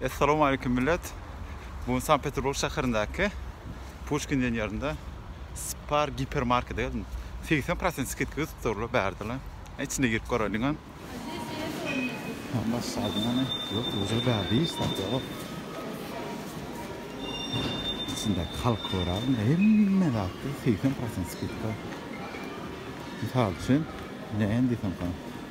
Essalamu Aleýkum Millet! Bu gün Sankt Peterburg şäherindäki Puşkin ýerinde Spar Giper Markete geldim. Segsen prosent skidka götüpdirler bärde-le. Içine girip göräýdiňem. Baş salym hany? Ýok, özi bärde hiç zat ýok. Içindäki halky göräýdim. Hemme zatda segsen prosent skidka. Mysal üçin, näme diýsemka?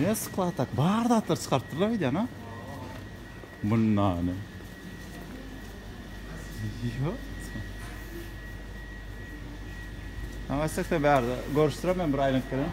Ne sklad ak bar zatlar çykartdylar aýdýan ha. Munnany. Ýa. Aýtsak da bärde görüşdirem men bir aýlanyp gelen.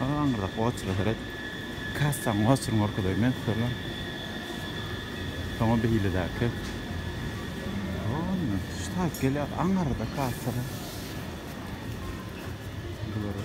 Aga aňyrrak oçura seret. Kassaň oçuryny görkezeýin men sizlerle. Soňa beýledäki. Ondan şu taýyp gelýär aňyrda kassada. Bulara.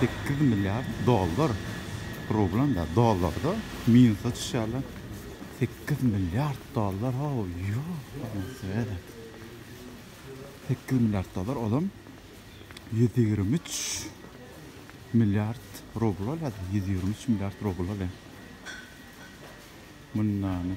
Sekiz milliard dollar, rublanda, dollarda minusda çyşýarlar. Sekiz milliard dollar, how, ýok, welosipede. Sekiz milliard dollar, olam ýüz ýigrimi üç milliard rubl bolýa-da, ýüz ýigrimi üç milliard rubl bolýa. Mundany.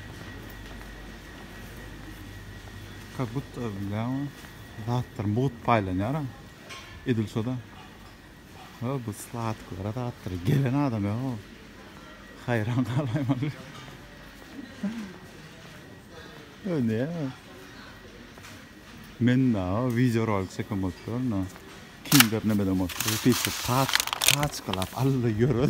Ka gut öwlüläň zatlaryň bugut paýlanýara edil şoda. Ha bu sladyklara zatlara gelen adam ýa o. Haýran galaýmaly. Ö ne? Men na video rolik çeken bolupdyryn na. Kinder nemeden bolupdyr? Pişip pat paçkalap alla ýörer.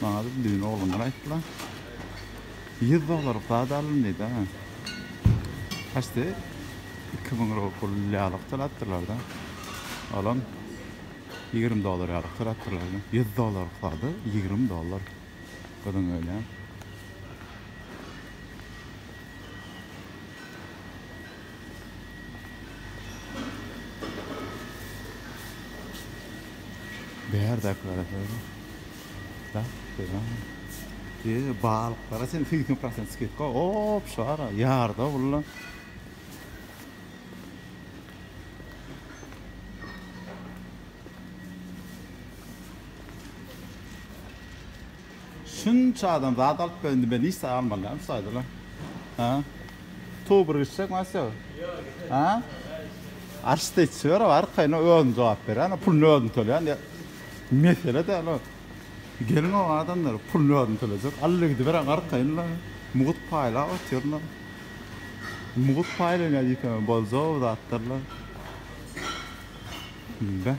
Maňa bir düýn oglanlar aýtdylar. Ýüz dollarlyk zat alyn diýdi. Haçdy? Iki müň rubl ýalyk töläpdirler-de. Olam ýigrimi dollar ýalyk töläpdirler. Ýüz dollarlyk zady ýigrimi dollar. Gyzyň öýlän. Bärdäkilere seredip, bäh, beýlemi? Eee, balyklara çenli segsen prosent skidka, op, şara, ýarda bulla. Şunça adam zat alyp gel indi men işde galmalydam şu aýdylan. Ha? Tuw bir gitjek masyo. Ha? Arşda içi ber arkaýyn özüm jogap berýän puluny özüm tölýän diýip. Mesele däl o. Gelin o adamlar puluny özüm tölejek. Alla gidiberen arkaýyn la. Mugut paýlap otyr la. Mugut paýlanýar diýipem boljak zatlar la. Beh.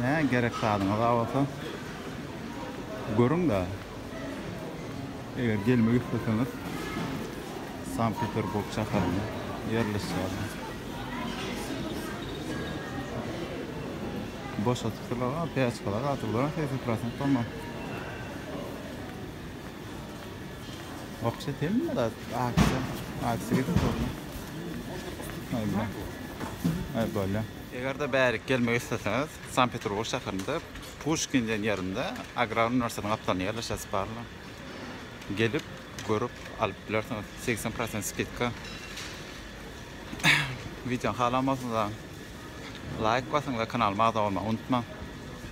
Nä gerek zadyňyz bar bolsa görüň-de. Eger gelmek isleseňiz Sankt-Peterburg şäherinde ýerleşýärler. Boşadypdyrlar, a peçkalar gaty golaý, segsen prosent dolma. Wapşet hemme zat aşa aşa gidip bolýar. Aýda. Aý bolýa. Eger-de bärik gelmek isleseňiz, Sankt-Peterburg şäherinde Puşkin diýen ýerinde Agrar uniwersitetiň gapdalynda ýerleşesi bar. Gelip, görüp alyp bilersiňiz. Segsen prosent skidka. Wideony halan bolsaňyzam laýk basyň we kanalyma agza bolmagy unutmaň.